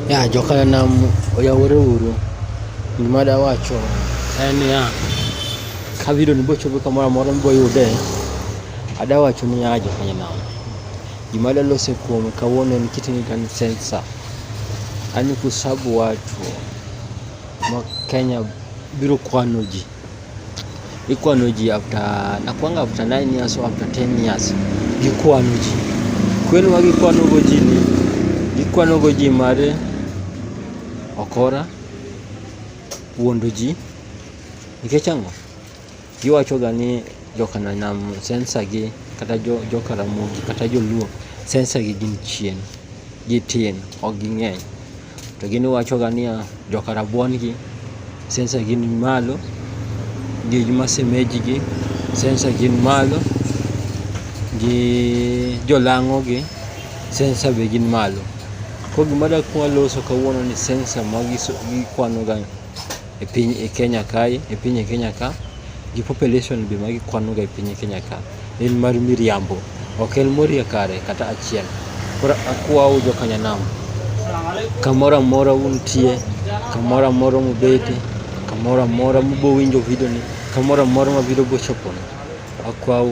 ya jokala nam oyawore uru gima dawacho en niya kabiro ni bochopo kamoro amora miboyude adawacho niya jokanya nam gima dalose kuome kawuono en kitini kan sensa ani kusabu watu ma kenya biro kwano ji ikwano ji after nakwanga after 9 years or after 10 years gikwano ji kweno ma gikwanogo ji ni gikwanogo ji mar okora wuondo ji nikech ang'o giwachoga ni jokananam sensagi kata jokaramogi kata joluo sensagi gin chien gitin ok ging'eny To gini wachoga niya, joka rabuon gi sensa gin malo, gi masemeji gi sensa gin malo, gi jolang'o gi sensa be gin malo. Koro gima dakwa loso kawuono ni sensa ma gikwano ga. e piny e Kenya kae e piny e Kenya ka gi population be ma gikwanoga e piny e Kenya ka en mar miriambo ok en morie kare kata achiel koro akwau jo Kanyanam kamoro amora untie kamoro amora mubete kamoro amora mubo winjo video ni kamoro amora ma video bochopone akwau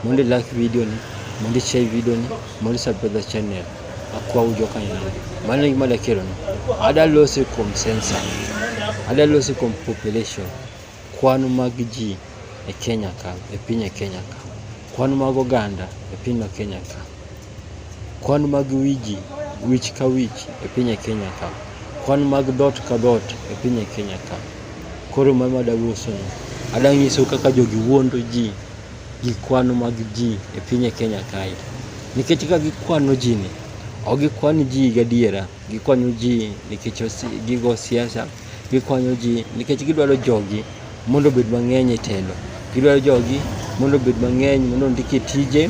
mondo ilak video ni mondo ichai video ni mondo isubscribe the channel akwa ujo ka ina mano gima da kelo no ada lose kuom sensa ada lose kuom population kwan mag ji e Kenya ka e piny e Kenya ka kwan mag oganda e piny ma Kenya ka kwan mag wiji wich ka wich e piny e Kenya ka kwan mag dot ka dot e piny e Kenya ka koro mano ada lose no ada nyiso kaka jogi wuondo ji gi kwano mag ji e piny e Kenya kae. Nikech ka gikwano ji ni, ok gikwan ji gadiera, gikwanyo ji nikech gigo siasa, gikwanyo ji nikech gidwaro jogi mondo obed mang'eny e telo. Gidwaro jogi mondo obed mang'eny mondo ondik e tije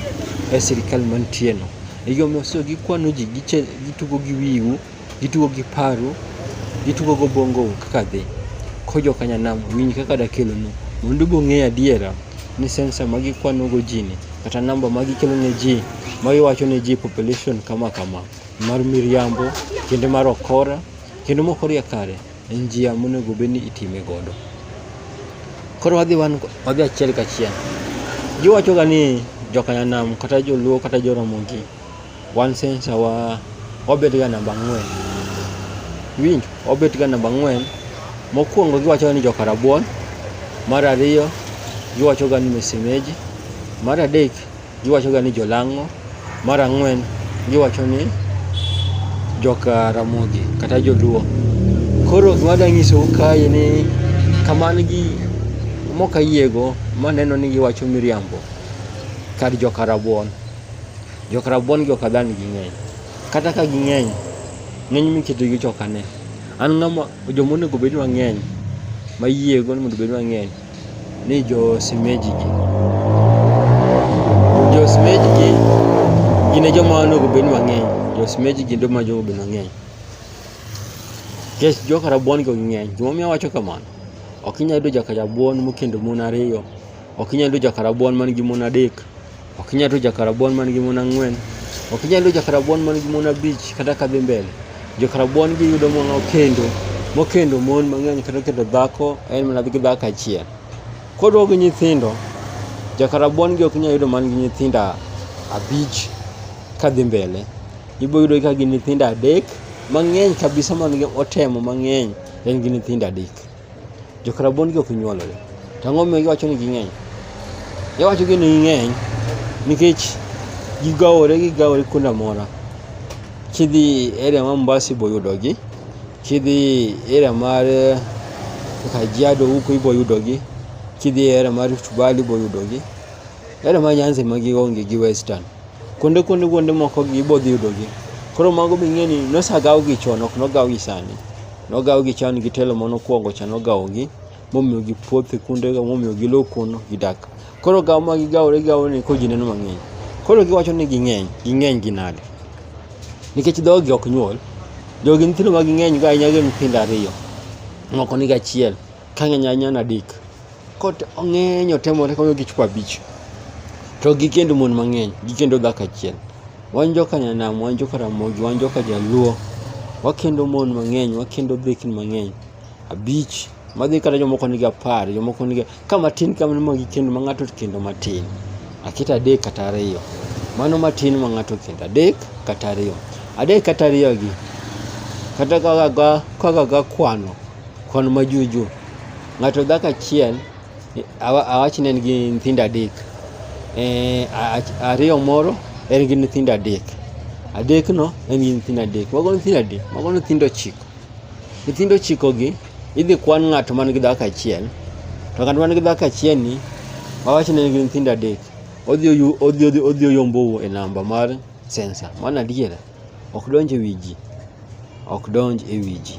e sirikal mantieno. E gimomiyo so gikwano ji, gitugo gi wiu. Gitugo gi paru, gitugo go bongo kaka dhi. Ko jo kanyanam winj kaka dakelo nu. Mondo bong'e adiera ni sensa ma gikwano go ji ni kata namba ma gikelo ne ji ma giwacho ne ji population kama kama mar miriambo kendo mar okora kendo mok orie kare en njia monego bed ni itime godo. Koro wadhi wan wadhi achiel kachiel. Giwacho ga ni jo kanyanam kata joluo kata jo ramogi. One sensor wa obet ga namba ang'wen. Winj, obet ga namba ang'wen. Mokwongo giwacho ni joka rabuon, mar ariyo giwacho ga ni mesemeji, mar adek giwacho ga ni jolang'o, mar ang'wen giwacho ni joka ramogi kata joluo. Koro gima adwa nyisou kae ni kaman gi mokayiego maneno ni giwacho miriambo kar joka rabuon. Jok rabuon gi ok adhal ni ging'eny. Kata ka ging'eny, ng'eny miketo gi ok ane. An ng'ama joma onego bed ni wang'eny mayiego ni mondo obed mang'eny ni jo simeji gi. Jo simeji gi gin e joma onego bed ni wang'eny. Jo simeji gi joma onego bed ni wang'eny. Nikech joka rabuon go ging'eny. Gimomiyo awacho kamano, ok inyal yudo joka rabuon mokendo mon ariyo, ok inyal yudo joka rabuon man gi mon adek. Ok inyal rucho jakarabuon man gi mon ang'wen. Ok inyal rucho jakarabuon man gi mon abich kata ka dhi mbele. Jokarabuon giyudo mon okendo mokendo mon mang'eny kata okendo dhako en mana gi dhako achiel. Kodwa gi nyithindo, jakarabuon gi ok inyal yudo man gi nyithindo abich ka dhi mbele. Ibiro yudo ka gin nyithindo adek mang'eny kabisa man gi otemo mang'eny en gi nyithindo adek. Jokrabon gi ok nyuolore. To ang'o momiyo giwacho ni ging'eny? Giwacho ni ging'eny nikech gigawore gigawore kuonde amora. Kidhi area ma Mombasa ibo yudogi, kidhi area mar eh, Kajiado huko ibo yudogi, kidhi area mar Rift Valley ibo yudogi. Area ma Nyanza ema gionge gi Western. Kuonde kuonde kuonde moko gibo dhi yudogi. Koro mago be ing'e ni nosagawgi chon ok nogawgi sani. Nogawo gi chan gi telo ma nokwongo cha nogawo gi momiyo gi puothe kunde ga momiyo gi lo kuno gidak. Koro gawo ma gigawore gigawo ni ko ji neno mang'eny. Koro giwacho ni ging'eny, ging'eny gi nade? Nikech dhogi ok nyuol, jogi nyithindo ma ging'eny go ahinya gin nyithindo ariyo, moko nigi achiel, ka ng'eny ahinya en adek. Kot ong'eny otemore konyo gi chwo abich. To gikendo mon mang'eny, gikendo dhako achiel. Wan joka Nyanam, wan joka Ramogi, wan joka Jaluo. Wakendo mon mang'eny, wakendo dhekni mang'eny. Abich, madhi kata jomoko nigi apar, jomoko nigi ka matin kamano ma gikendo ma ng'ato kendo matin. Aketo adek kata ariyo. Mano matin ma ng'ato kendo adek kata ariyo. Adek kata ariyo gi, kata kaka ga- kaka gakwano Kwan ma juju. Ng'ato dhako achiel awach ni en gi nyithindo adek. Eh, ariyo moro en gi nyithindo adek. Adek no en gi nyithindo adek. Mago nyithindo adek, mago nyithindo ochiko. Nyithindo ochiko gi idhi kwan ng'ato man gi dhako achiel. To ng'at man gi dhako achiel ni awach ni en gi nyithindo adek. Odhi odhi odhi oyombo e namba mar sensa. Mano adiera. Ok donj e wiji. Ok donj e wiji.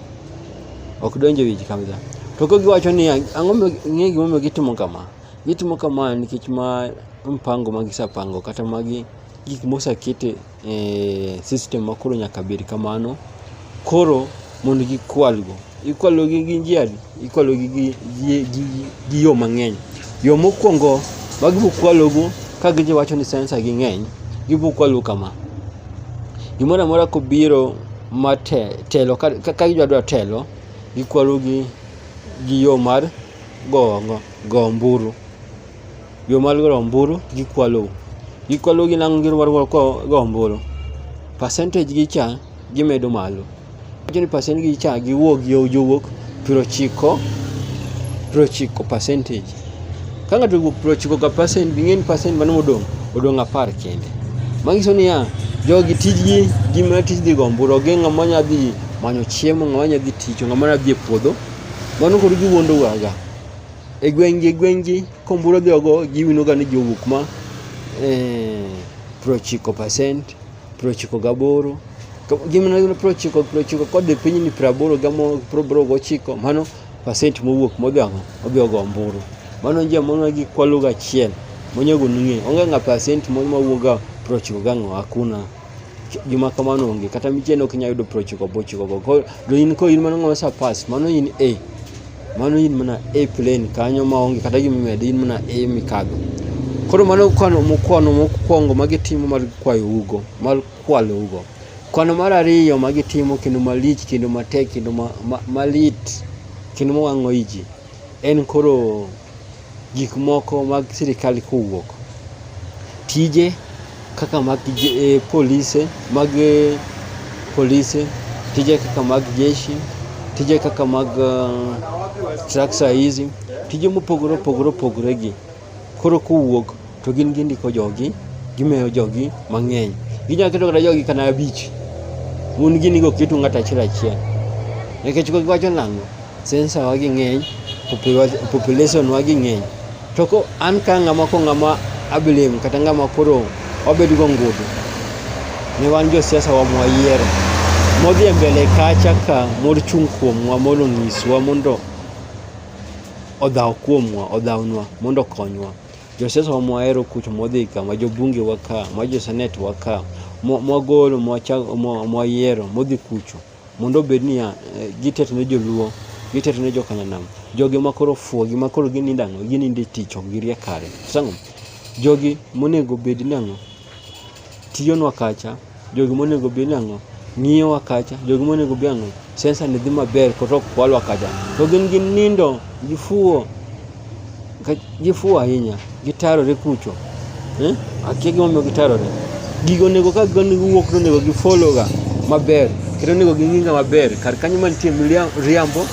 Ok donj e wiji kabisa. To ka giwacho ni ang'o ng'e gimomiyo gitimo kama. Gitimo kama nikech ma mpango ma gisepango kata magi gik mosekete e system ma koro nyaka bed kamano. Koro mondo gikwalgo. Ikwalogi gi njia adi? Ikwalogi gi, gi, gi, gi yo mang'eny. Yo mokwongo ma gibokwalogo ka gidhi wacho ni sensa gi ng'eny, gibokwalo kama. Gimoro amora kobiro ma te, telo, ka, ka gidwa dwa telo, gikwalo gi, gi yo mar go, go, go omburu. Yo mar go omburu gikwalo. Gikwalo gi nang'o gidwaro go omburu. Percentage gi cha gimedo malo. Wacho ni pasent gi cha giwuok gi jowuok piero chiko piero chiko percentage. Ka ng'ato owuok piero chiko ka percent ing'e ni percent mano modong' odong' apar kende. Manyiso niya, jogi tijgi gima tij dhi gomburo onge ng'ama nya dhi manyo chiemo ng'ama nya dhi tich ng'ama nya dhi e puodho. Mano koro giwuondo waga. E gweng'gi e gweng'gi komburo dhi ogo giwinoga ni jowuok ma eh, piero chiko percent. Prochiko gaboro gimana gino prochiko prochiko kodhi piny ni praboro gamo proboro gochiko mano pasent mowuok modhiang'o odhi ogo omburu mano nje mono gi kwalo gachiel monyago nung'e onge ng'a pasent moro mawuoga prochiko gang'o hakuna gima kamano onge kata micheno ok inyalo yudo prochiko bochiko go do in ko in mano ng'ama sa pass mano in a Mano in mana e plane kanyo ma onge kata gima imedo, in mana e mikadho. Koro mano kwano mokwano mokwongo ma gitimo mar kwayo ugo, mar kwalo ugo. Kwano mar ariyo ma gitimo kendo malich kendo matek kendo ma, ma, malit kendo mowang'o iji en koro gik moko mag sirikal kowuok. Tije kaka mag eh, polise, mag eh, polise, tije kaka mag jeshi, tije kaka mag uh, eh, traksa hizi, tije mopogore opogore opogore gi koro kowuok to gin gindiko jogi gimeyo jogi mang'eny ginyalo keto kata jogi kana abich un gini go keto ng'ato achiel achiel nikech ko giwacho nang'o sensa wa gi ng'eny population wa gi ng'eny to ko an ka ng'ama ko ng'ama abilem kata ng'ama koro wabed go ngudu ne wan josiasa wa mwayiero modhi e mbele kacha ka mor chung' kuomwa mondo onyiswa mondo odhaw kuomwa odhawnwa mondo okonywa Josiasa wa mwahero kucho mwadhi ka, ma jobunge wa ka, ma josenet wa ka, mwa- mwagolo mwacha- mwa- mwayiero modhi kucho mondo obed niya eh, giteto ne joluo giteto ne jokananam jogi ma koro fuo gi ma koro ginindo ang'o ginindo e tich ok girie kare sango jogi monego bed ni ang'o tiyonwa kacha, jogi monego bi nang'o, ng'iyowa kacha, jogi monego bi ang'o, sensa ni dhi maber kata ok kwalwa kacha. To gin gi nindo, gifuwo, gifuwo ahinya, gitarore kucho. Eh? Akia gimomiyo gitarore. Gigo onego ka gigo onego wuok to onego gifologa maber. Kendo onego ging'inga maber. Kar kanyo mantie riambo,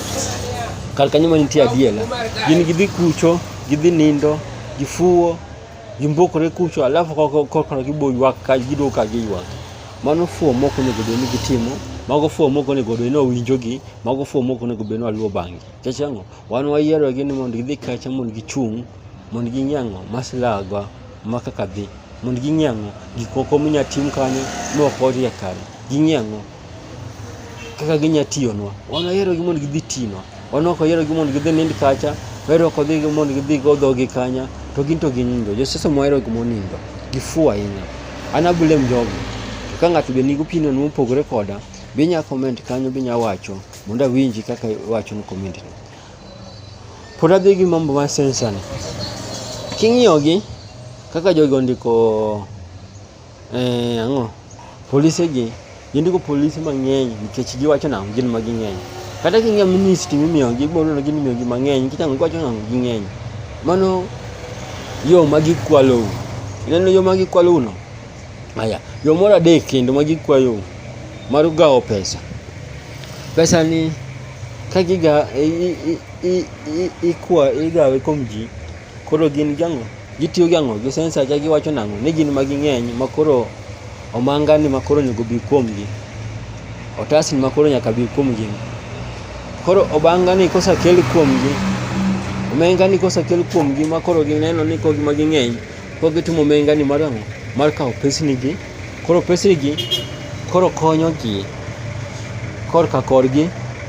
kar kanyo mantie adiela. Gin gidhi kucho, gidhi nindo, gifuwo, gimbokore kucho alafu korka gibo ywak ka gido ka giywak mano fuo moko onego bed ni gitimo mago fuo moko onego bed ni owinjogi mago fuo moko onego bed ni waluwo bang'gi nikech ang'o wan wayierogi ni mondo gidhi kacha mondo gichung' mondo ging'e ang'o maslagwa ma kaka dhi mondo ging'e ang'o gik moko minya tim kanyo mok orie kare ging'e ang'o kaka ginya tiyonwa. Wan wayierogi mondo gidhi tinwa. Wan ok wayierogi mondo gidhi nind kacha, wayero ok odhi mondo gidhi go dhogi kanya, to gin to ginindo. Josiasa mohero gik monindo, gifuwo ahinya. An ablem jogo. To ka ng'ato be nigi opinion mopogore koda, be inya comment kanyo be inya wacho mondo awinji kaka iwacho no comment no. Pod adhi gi mambo mar sensor ni. King'iyogi kaka jogi ondiko Eh, ang'o? Polise gi, gin ndiko polise mang'eny nikech giwacho nang'o gin ma ging'eny. Kata king'iyo ministry mimiyogi, ibiro neno gin imiyogi mang'eny nikech ang'o giwacho nang'o ging'eny. Mano yo ma gikwalou. Ineno yo ma gikwalouno? Aya, yo moro adek kendo ma gikwayou mar gawo pesa. Pesa ni ka giga, i, i, i, i, ikwa, igawe kuom ji Koro gin gi ang'o? Gitiyo gi ang'o? Gi sensa cha giwacho nang'o? Ni gin ma ging'eny ma koro omanga ni ma koro onego bi kuomgi. Otas ni ma koro nyaka bi kuomgi. Koro obanga ni kosakel kuomgi, omenga ni kosakel kuomgi ma koro gineno ni koro gin ema ging'eny, koro gitimo omenga ni mar ang'o? Mar kawo pesni gi. Koro pesegi koro konyo ji korka korgi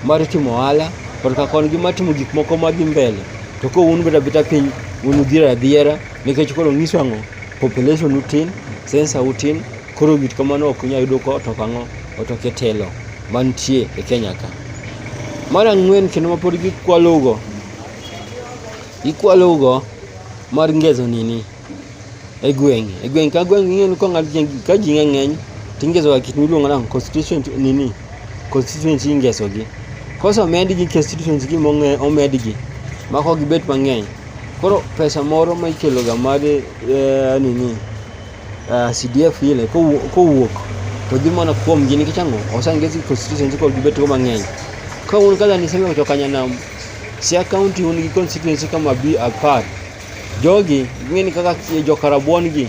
mar timo ohala, korka korgi mar timo gik moko madhi mbele. To ka un ubedo abeda piny, un udhier adhiera nikech koro nyiso ang'o, population u tin, sensa u tin, koro gik kamano ok unyal yudo ka otoko ang'o, otoko e telo mantie e Kenya ka. Mar ang'wen kendo ma pod gikwalo go, gikwalo go mar ngezo nini. e gweng' e gweng' ka gweng' ing'eyo ni kong'ad ka ji ng'eny to ingesoga kit miluongo nang'o constituent nini constituency ingesogi kosemedgi constituency gi momedgi ma kok gibet mang'eny koro pesa moro ma ikeloga mar eh, nini eh, CDF ile kowuok to dhi mana kuomgi nikech ang'o osengesi constituency kod gibetgo mang'eny ka un kaka nisengeyo to kanyanam Siaya County un gi constituency kama bi apar Jogi ging'eni kaka joka rabuon gi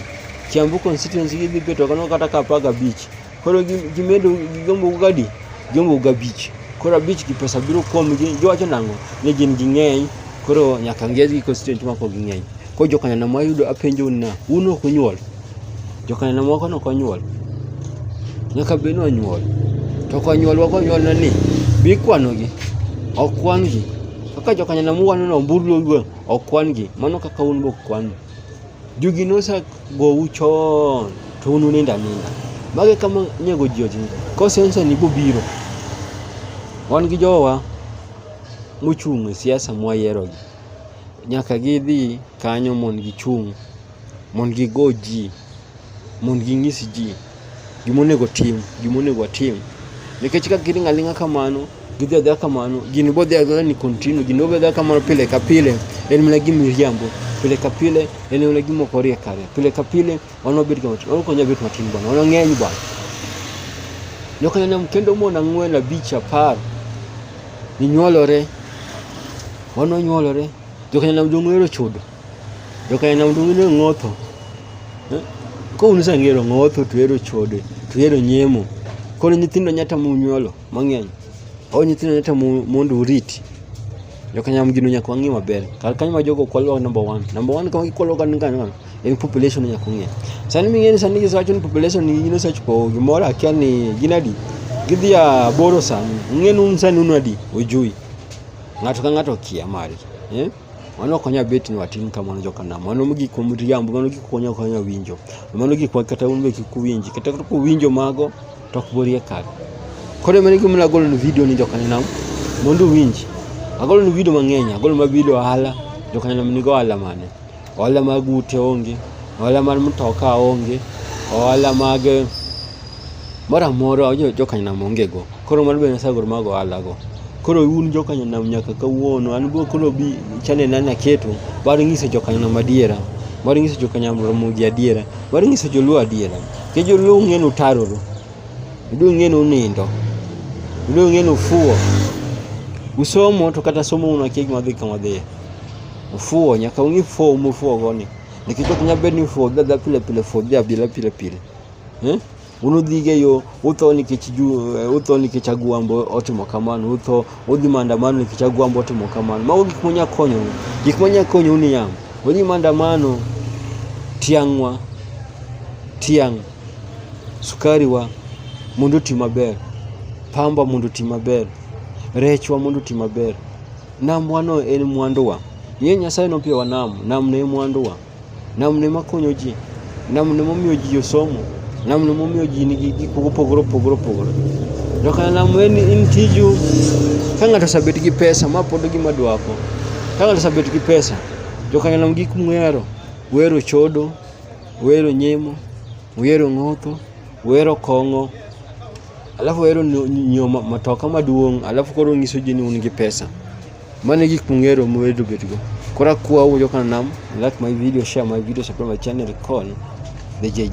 Kiambu constituency gidhi beto kano kata ka apar gabich. Koro gimedo gigombo gadi gigombo gabich. Koro abich gi pesa biro kuom gi giwacho nang'o ni gin ging'eny koro nyaka ng'e gi constituency mako ging'eny. Koro joka neno ma yudo apenjo na un ok unyuol. Joka neno moko no konyuol. Nyaka bed ni onyuol. To konyuol wako nyuol na ni bikwano gi. Ok kwan gi. Kaka joka neno muwano no mbulu Ok kwan-gi, mano kaka un be ok kwan-u. Jogi nosegou chon, to un unindo aninda. Magi kama nego ji ojing. Kosensa ni bobiro. Wan gi jowa mochung' e siasa mwayierogi. Nyaka gidhi kanyo mondo gichung'. mondo gigo ji mondo ginyis ji gima onego tim gima onego atim nikech ka giling' aling'a kamano gidhi adhiya kamano gini bodhi adhiya ni continue gini bodhi adhiya kamano pile ka pile en mana gi miriambo pile ka pile en mana gi moko riek kare pile ka pile wan wabed kama wan ok wanyal bet matin bwana wan wang'eny bwana joka nyanam kendo mon ang'wen abich apar ninyuolore wan wanyuolore joka nyanam jong'ero chodo Jokaina undu wino ng'otho. Eh? Ko un sangero ng'otho tuhero chode, tuhero nyemo. Koro nyithindo nyata munyuolo mang'eny. O nyithindo nyata mondo uriti. Jokanyam gino nyaka wang'e maber. Kar kanyo ma jogo kwalo number 1. Number 1 kama gikwalo kan kan en population nyaka ung'e. Sani ming'eni sani gisewacho ni population ni gino sechupo gimoro akia ni gin adi. Gidhi a boro sani. Ung'e nun sani unu adi? Ujui. Ng'ato ka ng'ato kia mari. Eh? Mano ok nyal bet ni watim kamano joka nam. Mano gik miriambo, mano gik konya konya winjo. Mano gik ma kata un be kik uwinji. Kata kata kuwinjo mago to ok borie kar. Koro mane gima nagolo ni video ni joka nam mondo uwinji. Agolo ni video mang'eny, agolo ma video ohala, joka nam nigo ohala mane? Ohala mag ute onge, ohala mar mtoka onge, ohala mag moro amora jokanyanam ongego koro mano bende nasagor mag ohalago koro un jokanyanam nyaka kawuono an go koro bi chanel na naketo mar nyiso jokanyanam adiera mar nyiso jokanyanam ramogi adiera mar nyiso joluo adiera ke joluo ung'e ni utaroru joluo ung'e ni unindo joluo ung'e ni ufuwo usomo to kata somo un akia gima dhi kama dhiye ufuwo nyaka ung'e fuwo mufuwo goni nikech ok nyal bed ni ufuwo dhi adhiya pile pile fuwo dhi abila pile pile eh? unudhiga e yo utho nikech eh, utho nikech agwambo otimo kamano utho udhi maandamano nikech agwambo otimo kamano mago gik manya konyo gik manya konyo ni yam odhi maandamano tiang'wa tiang' sukari wa mondo oti maber pamba mondo oti maber rechwa mondo oti maber namwano en mwanduwa ye nyasaye nopiyowa nam nam ne mwanduwa Namne makonyo ji, namne momiyo ji osomo, namne momiyo ji nigi gik mopogore opogore opogore. To kar lamo en in tiju ka ng'ato osebet gi pesa ma pod gima dwako. Ka ng'ato osebet gi pesa, to kar lamo gik mwero, wero chodo, wero nyemo, wero ng'otho, wero kong'o, alafu wero nyoma matoka maduong' alafu koro nyiso ji ni un gi pesa. Mano e gik mong'ero mowedo bedgo. Kora kuwa uwuoyo kana nam. Like my video, share my video, subscribe my channel, call the JJ.